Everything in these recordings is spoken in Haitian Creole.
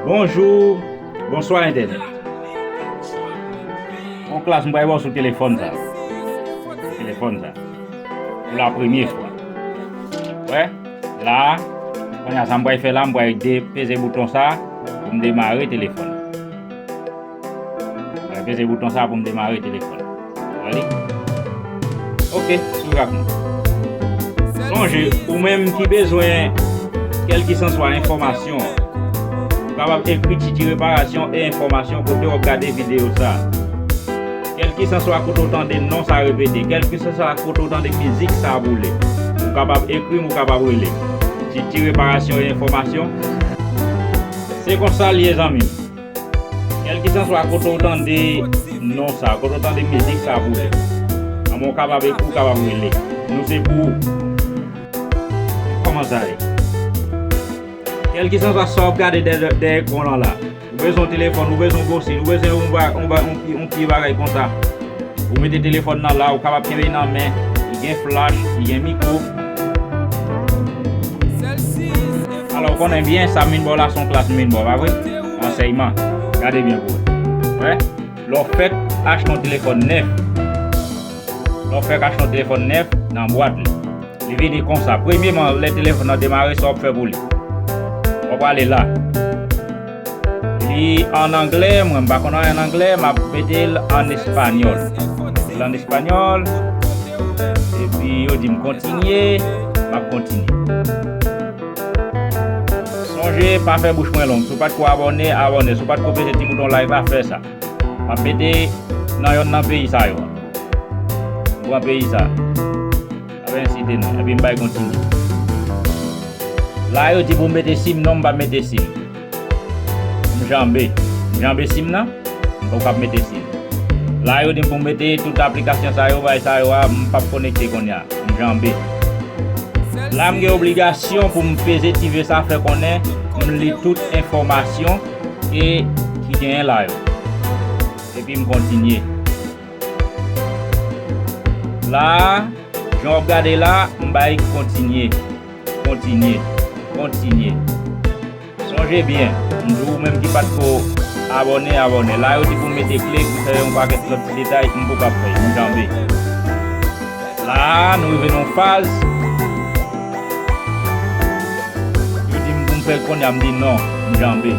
Bonjou Bonswa entènèt Yon klas m pral ba w sou telefòn sa Telefòn sa Pou la premye fwa Ou wè La a Kounye a sa m pral fè la M pral peze bouton sa Pou m demare telefòn Mwen peze bouton sa pou m demare telefòn nan. Wè li? Ok, swiv ak mwen. Sonje, ou menm ki bezwen kèlkisanswa enfòmasyon, ou kapab ekri Titi Reparasyon e Enfòmasyon kote w ap gade videyo sa. Kèlkisanswa kote w tande non sa repete, kèlkisanswa kote w tande mizik sa boule, ou kapab ekri m, ou kapab rele m. Titi Reparasyon e Enfòmasyon. Se konsa l ye zanmi m. Kèlkisanswa kote ou tande non sa, kote ou tande mizik sa boule, anben ou kapab ekri, ou kapab rele. Nou se pou ou. Kòman sa ye? Kèlkisanswa sa w ap gade dèyè ekran w lan la, ou bezwen yon telefòn, ou bezwen yon bosini, ou bezwen yon ti bagay konsa, ou mete telefòn lan la, ou kapab kenbe li nan men, li gen flach, li gen mikwo. Alò, ou konnen byen, sa m vin ba w la se yon klas m vin ba w, pa vre? Ansèyman. Gade byen pou w wè. Lè w fèk achte yon telefòn nèf, lè w fèk achte yon telefòn nèf, nan bwat li, li vini kon sa. Premyeman, lè telefòn nan demare, sa w ap fè pou li? Ou prale la. Li an anglè, mwen m pa konn anyen an anglè, m ap mete l an espanyòl. L an espanyòl, epi yo di m kontinye, m ap kontinye. Sonje pa fè bouch mwen long, si w pa t ko abòne, abòne, si w pa t ko peze ti bouton like la, fè sa. M ap mete nan yonn nan peyi sa yo. M pran peyi sa. Yo ensite nou epi m bay kontinye. La yo di pou m mete sim non m pa mete sim. M janbe. M janbe sim nan? M poko kab mete sim. La yo di m pou m mete tout aplikasyon sa yo bagay sa yo a m pap konekte konnya. M janbe. La m gen obligasyon pou m peze ti ve sa fè konnen m li tout enfòmasyon e ki genyen la yo. Epi m kontinye. La a, jan w ap gade la, m bay kontinye, kontinye, kontinye. Sonje byen, m di w ou menm ki pa t ko abòne, abòne. La yo di pou m mete kle pou fè yon pakèt lòt ti detay, m poka fè, m janbe. La a, nou rive nan yon faz, yo di m pou m fè l kounya, m di non, m janbe.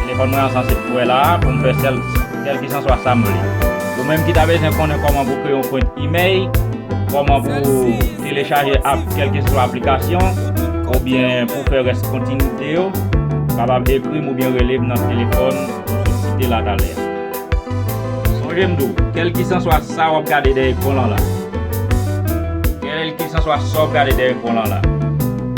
Telefòn mwen an sanse pou wè la a pou m fè sèl kèlkisanswa sa m vle. Ou menm ki ta bezwen konnen kòman pou kreye yon kont imèy, kòman pou telechaje app kèlkeswa aplikasyon, oubyen pou fè rès kontinite yo, kapab ekri m oubyen rele m nan telefòn m sot site la talè a. Sonje m di w, kèlkisanswa sa w ap gade dèyè ekran w lan la, kèlkisanswa sa w ap gade dèyè ekran w lan la,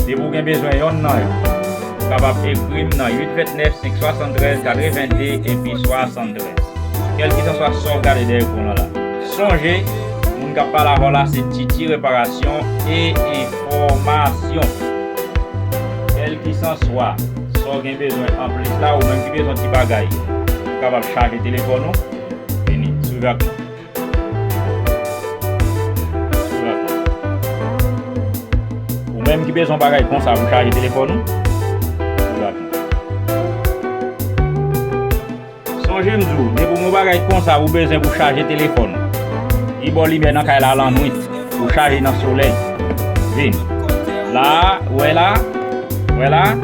depi w gen bezwen yonn nan yo, Ou kapab ekri m nan 829 573 82 epi 73. Kèlkisanswa sa w gade dèyè ekran w la, sonje moun k ap pale avè w la se Titi Reparasyon e Enfòmasyon. Kèlkisanswa sa w gen bezwen anplis la, ou menm ki bezwen ti bagay, ou kapab chaje telefòn ou. Vini, swiv ak mwen. Ou menm ki bezwen bagay konsa pou chaje telefòn ou, ou la tou. Sonje m di w, depi w gen yon bagay konsa ou bezwen pou chaje telefòn ou, li ba w limyè nan kay la lannwit, ou chaje nan solèy. Vini. La a, ou wè la a? Ou wè la a?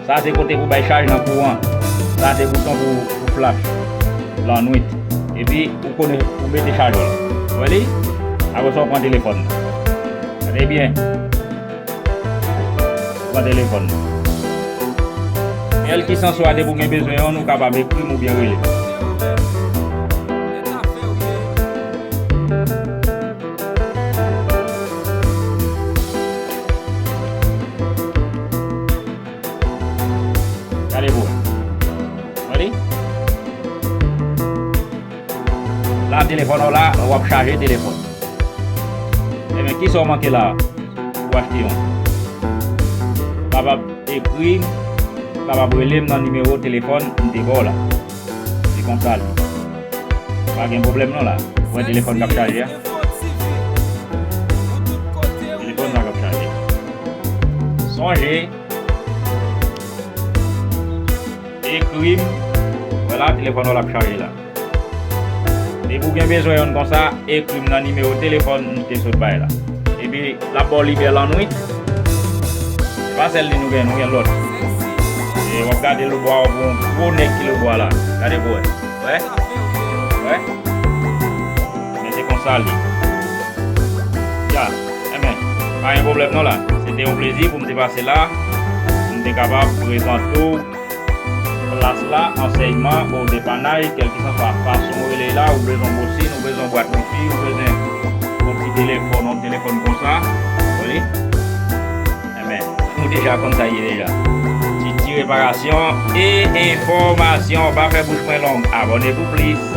Sa se kote pou bay chaj nan kouran. Sa se bouton pou flash lan nwit. Epi ou konnen pou mete chajè l. Ou wè li? Apre sa ou pran telefòn nan. Gade byen. Ou pran telefòn nan. Kèlkisanswa depi ou gen bezwen an, ou kapab ekri m oubyen rele m. Gade pou wè. Wè li? La telefòn ou la, ou ap chaje telefòn. Ebyen ki sa ou manke la a? Ou achte yon. Ou kapab ekri, ou kapab rele m nan nimewo telefòn m te ba w la. Se konsa li. Pa gen pwoblèm non la. Ou wè telefòn k ap chaje a? Telefòn sa k ap chaje. Sonje ekri m. Wè la telefòn w la ap chaje la. Depi w gen bezwen youn konsa, ekri m nan nimewo telefòn m te sot bay la. Epi lap baw lide lannwit. Se pa sèl li nou gen, nou gen lòt. E wap gade lobwa wap wè yon gwo nèg ki lobwa la. Gade pou wè. Wè? Wè? Men se konsa li. Ya. Enben. Pa gen pwoblèm non la. Se te yon plezi pou m te pase la. Pou m te kapab prezante w. Plas la, ansèyman, o depannay, kèlkisanswa fason ou rele la, ou bezwen bosine, ou bezwen bwat wifi, ou bezwen yon ti telefòn, yon telefòn konsa, wi, enben, ou deja konn sa ye deja. Titi Reparasyon e Enfòmasyon, pa fè bouch mwen long, abòne pou plis.